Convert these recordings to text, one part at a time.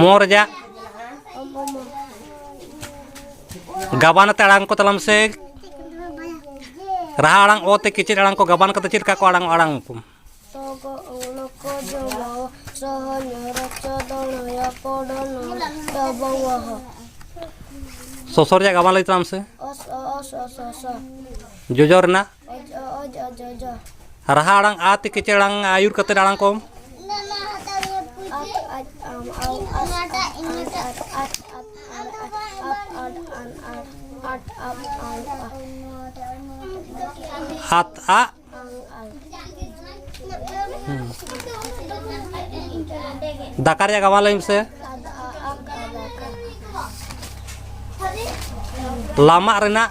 ᱢᱚ ᱨᱮᱭᱟᱜ ᱜᱟᱵᱟᱱ ᱟᱛᱮ ᱟᱲᱟᱝ ᱠᱚ ᱛᱟᱞᱟᱢ ᱥᱮ ᱨᱟᱦᱟ ᱟᱲᱟᱝ ᱚ ᱛᱮ ᱠᱮᱪᱮᱫ ᱟᱲᱟᱝ ᱠᱚ ᱜᱟᱵᱟᱱ ᱠᱟᱛᱮ ᱪᱮᱫ ᱞᱮᱠᱟ ᱠᱚ ᱟᱲᱟᱝ ᱟᱲᱟᱝ ᱠᱚ ᱥᱚᱥᱚ ᱨᱮᱭᱟᱜ ᱜᱟᱵᱟᱱ ᱞᱟᱹᱭ ᱛᱟᱞᱟᱝ ᱢᱮᱥᱮ ᱡᱚᱡᱚ ᱨᱮᱱᱟᱜ ᱨᱟᱦᱟ ᱟᱲᱟᱝ ᱟ ᱛᱮ ᱠᱮᱪᱮ ᱟᱲᱟᱝ ᱟᱹᱭᱩᱨ ᱠᱟᱛᱮ ᱟᱲᱟᱝ ᱠᱚᱢ ᱦᱟᱛ ᱟ ᱫᱟᱠᱟ ᱨᱮᱭᱟᱜ ᱜᱟᱵᱟᱱ ᱞᱟᱹᱭ ᱢᱮᱥᱮ ᱞᱟᱢᱟᱜ ᱨᱮᱱᱟᱜ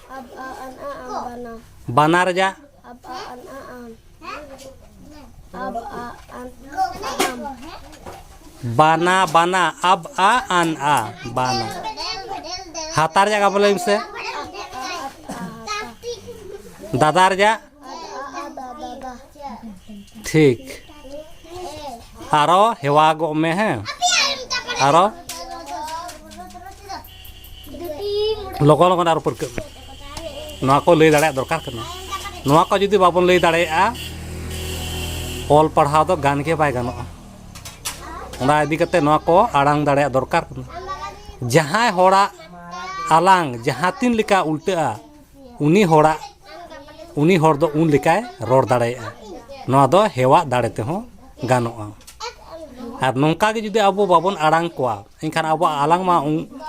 ᱵᱟᱱᱟ ᱨᱮᱭᱟᱜ ᱵᱟᱱᱟ ᱵᱟᱱᱟ ᱟᱵ ᱟ ᱟᱱ ᱟ ᱵᱟᱱᱟ ᱦᱟᱛᱟ ᱨᱮᱭᱟᱜ ᱜᱟᱵᱚᱞᱮ ᱢᱮᱥᱮ ᱫᱟᱫᱟ ᱨᱮᱭᱟᱜ ᱴᱷᱤᱠ ᱟᱨᱚ ᱦᱮᱣᱟ ᱜᱚᱜ ᱢᱮ ᱦᱮᱸ ᱟᱨᱚ ᱞᱚᱜᱚᱱ ᱞᱚᱜᱚᱱ ᱟᱨᱚ ᱯᱟᱹᱨᱠᱟᱹᱜ ᱢᱮ ᱱᱚᱣᱟ ᱠᱚ ᱞᱟᱹᱭ ᱫᱟᱲᱮᱭᱟᱜ ᱫᱚᱨᱠᱟᱨ ᱠᱟᱱᱟ ᱱᱚᱣᱟ ᱠᱚ ᱡᱩᱫᱤ ᱵᱟᱵᱚᱱ ᱞᱟᱹᱭ ᱫᱟᱲᱮᱭᱟᱜᱼᱟ ᱚᱞ ᱯᱟᱲᱦᱟᱣ ᱫᱚ ᱜᱟᱱ ᱜᱮ ᱵᱟᱭ ᱜᱟᱱᱚᱜᱼᱟ ᱚᱱᱟ ᱤᱫᱤ ᱠᱟᱛᱮ ᱱᱚᱣᱟ ᱠᱚ ᱟᱲᱟᱝ ᱫᱟᱲᱮᱭᱟᱜ ᱫᱚᱨᱠᱟᱨ ᱠᱟᱱᱟ ᱡᱟᱦᱟᱸᱭ ᱦᱚᱲᱟᱜ ᱟᱞᱟᱝ ᱡᱟᱦᱟᱸ ᱛᱤᱱ ᱞᱮᱠᱟ ᱩᱞᱴᱟᱹᱜᱼᱟ ᱩᱱᱤ ᱦᱚᱲᱟᱜ ᱩᱱᱤ ᱦᱚᱲ ᱫᱚ ᱩᱱ ᱞᱮᱠᱟᱭ ᱨᱚᱲ ᱫᱟᱲᱮᱭᱟᱜᱼᱟ ᱱᱚᱣᱟ ᱫᱚ ᱦᱮᱣᱟᱜ ᱫᱟᱲᱮ ᱛᱮᱦᱚᱸ ᱜᱟᱱᱚᱜᱼᱟ ᱟᱨ ᱱᱚᱝᱠᱟ ᱜᱮ ᱡᱩᱫᱤ ᱟᱵᱚ ᱵᱟᱵᱚᱱ ᱟᱲᱟᱝ ᱠᱚᱣᱟ ᱮᱱᱠᱷᱟᱱ ᱟᱵᱚᱣᱟᱜ ᱟᱞᱟᱝ ᱢᱟ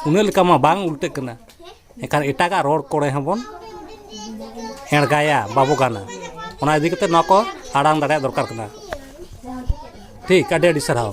ᱩᱱᱟᱹᱜ ᱞᱮᱠᱟ ᱢᱟ ᱵᱟᱝ ᱩᱞᱴᱟᱹᱜ ᱠᱟᱱᱟ ᱮᱱᱠᱷᱟᱱ ᱮᱴᱟᱜᱟᱜ ᱨᱚᱲ ᱠᱚᱨᱮ ᱦᱚᱸᱵᱚᱱ ᱮᱲᱜᱟᱭᱟ ᱵᱟᱵᱚ ᱜᱟᱱᱟ ᱚᱱᱟ ᱤᱫᱤ ᱠᱟᱛᱮᱫ ᱱᱚᱣᱟ ᱠᱚ ᱟᱲᱟᱝ ᱫᱟᱲᱮᱭᱟᱜ ᱫᱚᱨᱠᱟᱨ ᱠᱟᱱᱟ ᱴᱷᱤᱠ ᱟᱹᱰᱤ ᱟᱹᱰᱤ ᱥᱟᱨᱦᱟᱣ